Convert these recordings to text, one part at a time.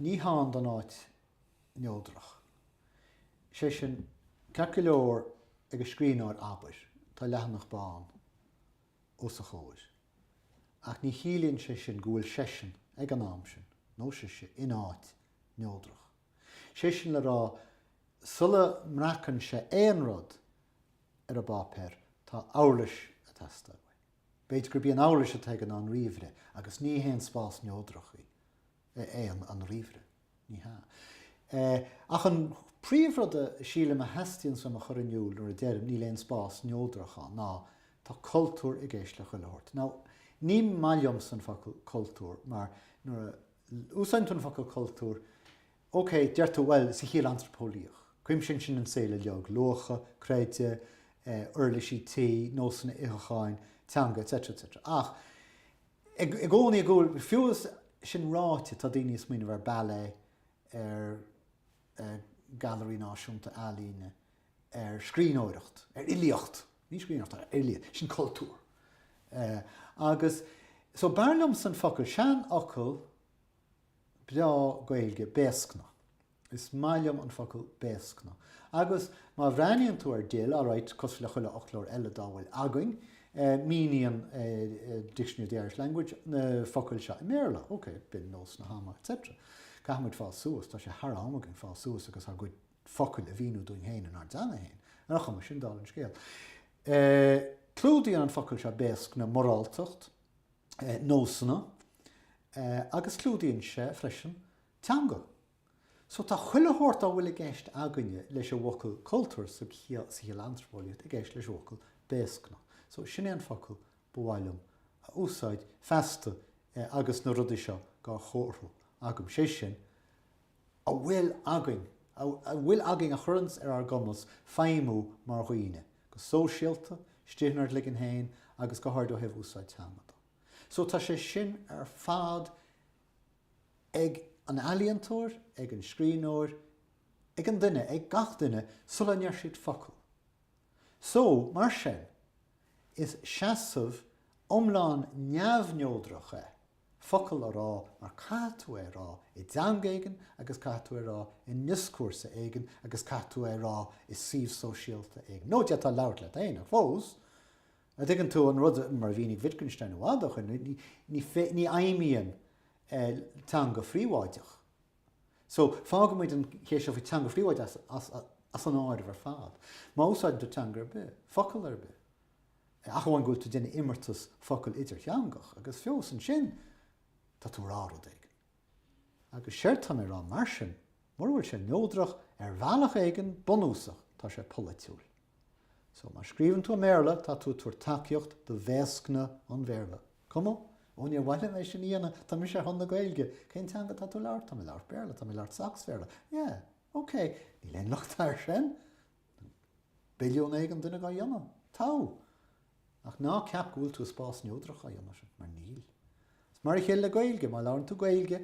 Ní hann don áit neodrach. Is é sin, ceart go leor ag an scríbhneoir, abair, tá leathanach bán os a chomhair, ach ní chiallaíonn sé sin go bhfuil seisean, ag an am sin, nó sise, in áit neodrach. Is é sin le rá, sula mbreacann sé aon rud ar an bpáipéar, tá uirlis ag teastáil uaidh. B'fhéidir gurb í an uirlis atá aige ná an ríomhaire, agus ní haon spás neodrach í, é an ríomhaire. Ní hea. Eh, ach an príomhrud a sílim a theastaíonns uaim a chur in iúl nuair a deirim, níl aon spás neodrach ann, ná, tá cultúr i gceist le chuile shórt. Now, ní maith liomsa an focal 'cultúr', mar nuair a úsáideann tú an focal 'cultúr', OK, deir tú, bhuel, sa chiall antraipeolaíoch, cuimsíonn sin an saol uilig, luacha, creideamh, eh, uirlisí tí, nósanna itheacháin, teanga, etc. etc. Ach, i gcónaí i gcúl, fiú is sin ráite, tá daoine ag smaoineamh ar ballet, ar, eh, Gailearaí Náisiúnta Ealaíne, ar scríbhneoireacht, ar fhilíocht, ní scríbhneoireacht ach fhilíocht, sin cultúr. Eh, agus, so, b'fhearr liomsa an focal, seanfhocal, breá Gaeilge, béascna. Is maith liom an focal béascna. Agus má bhreathnaíonn tú ar DIL, alright, cosúil le chuile fhoclóir eile dá bhfuil againn, míníonn Dictionary of the Irish Language na focail seo i mBéarla, ok, b'in nós na hama, etc. Caithfimid fás suas, tá sé thar am againn fás suas agus ár gcuid focail a mhíniú dúinn féin inár dteanga féin. Ar aon chuma, sin dála an scéil, clúdaíonn an focal seo béascna moráltacht, nósanna agus clúdaíonn sé freisin teanga. So tá chuile shórt dá bhfuil i gceist againne leis an bhfocal cultúr sa chiall antraipeolaíocht i gceist leis an bhfocal béascna. So sin é an focal ba mhaith liom a úsáid feasta agus na rudaí seo gá chomharthú agam, sé sin, a bhfuil againn, a bhfuil againn a chuireann ar ár gcumas feidhmiú mar dhaoine, go sóisialta, istigh inár gcloigeann féin agus go háirid ó thaobh úsáid teanga de. So tá sé sin ar fad ag an ealaíontóir, ag an scríbhneoir, ag an duine, ag gach duine sula ndeir siad focal. So, mar sin, is seasamh iomlán neamhneodrach é. focal a rá mar caithfidh tú é a rá i dteanga éigin agus caithfidh tú é a rá i ndioscúrsa éigin agus caithfidh tú é a rá i suíomh sóisialta éigin, nó d'fhéadfá labhairt leat féin ach fós, an dtuigeann tú an rud, mar a mhínigh Wittgenstein i bhfad ó shoin, ní fheidhmíonn teanga phríobháideach. So, fágfaimid an cheist seo faoi teanga phríobháideach as an áireamh ar fad. Má úsáideann tú teanga ar bith, focal ar bith, ach amháin go bhfuil tú déanamh imeartas focal idirtheangach agus fiú ansin tá tú rá rud éigin. Agus séard tá mé rá mar sin, mura bhfuil sé neodrach ar bhealach éigin bunúsach tá sé polaitiúil. So má scríobhann tú i mBéarla tá tú ag tabhairt tacaíocht do bhéascna an Bhéarla. Cuma? Ó níor mhaith liom é sin a dhéanamh, tá mise ar son na Gaeilge. Cén teanga tá tú labhairt? Tá mé labhairt Béarla, tá mé labhairt Sacsbhéarla. Yeah, ok, níl aon locht air sin. billiún éigin duine dhá dhéanamh? Togha. Ach ná ceap go bhfuil tú i spás neodrach á dhéanamh, mar níl. Is mar a chéile le Gaeilge, má labhrann tú Gaeilge,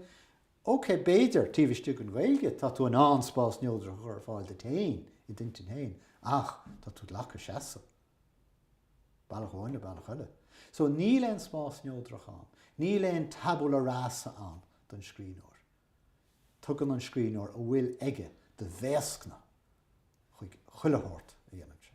OK, b'fhéidir, taobh istigh den Ghaeilge, tá tú in ann spás neodrach a chur ar fáil duit féin, i d'intinn féin, ach tá tú glacadh seasamh, bealach amháin nó bealach eile. So, níl aon spás neodrach ann, níl aon tabula rasa ann don scríbhneoir. Tugann an scríbhneoir a bhfuil aige de bhéascna chuig chuile shórt a dhéanann sé.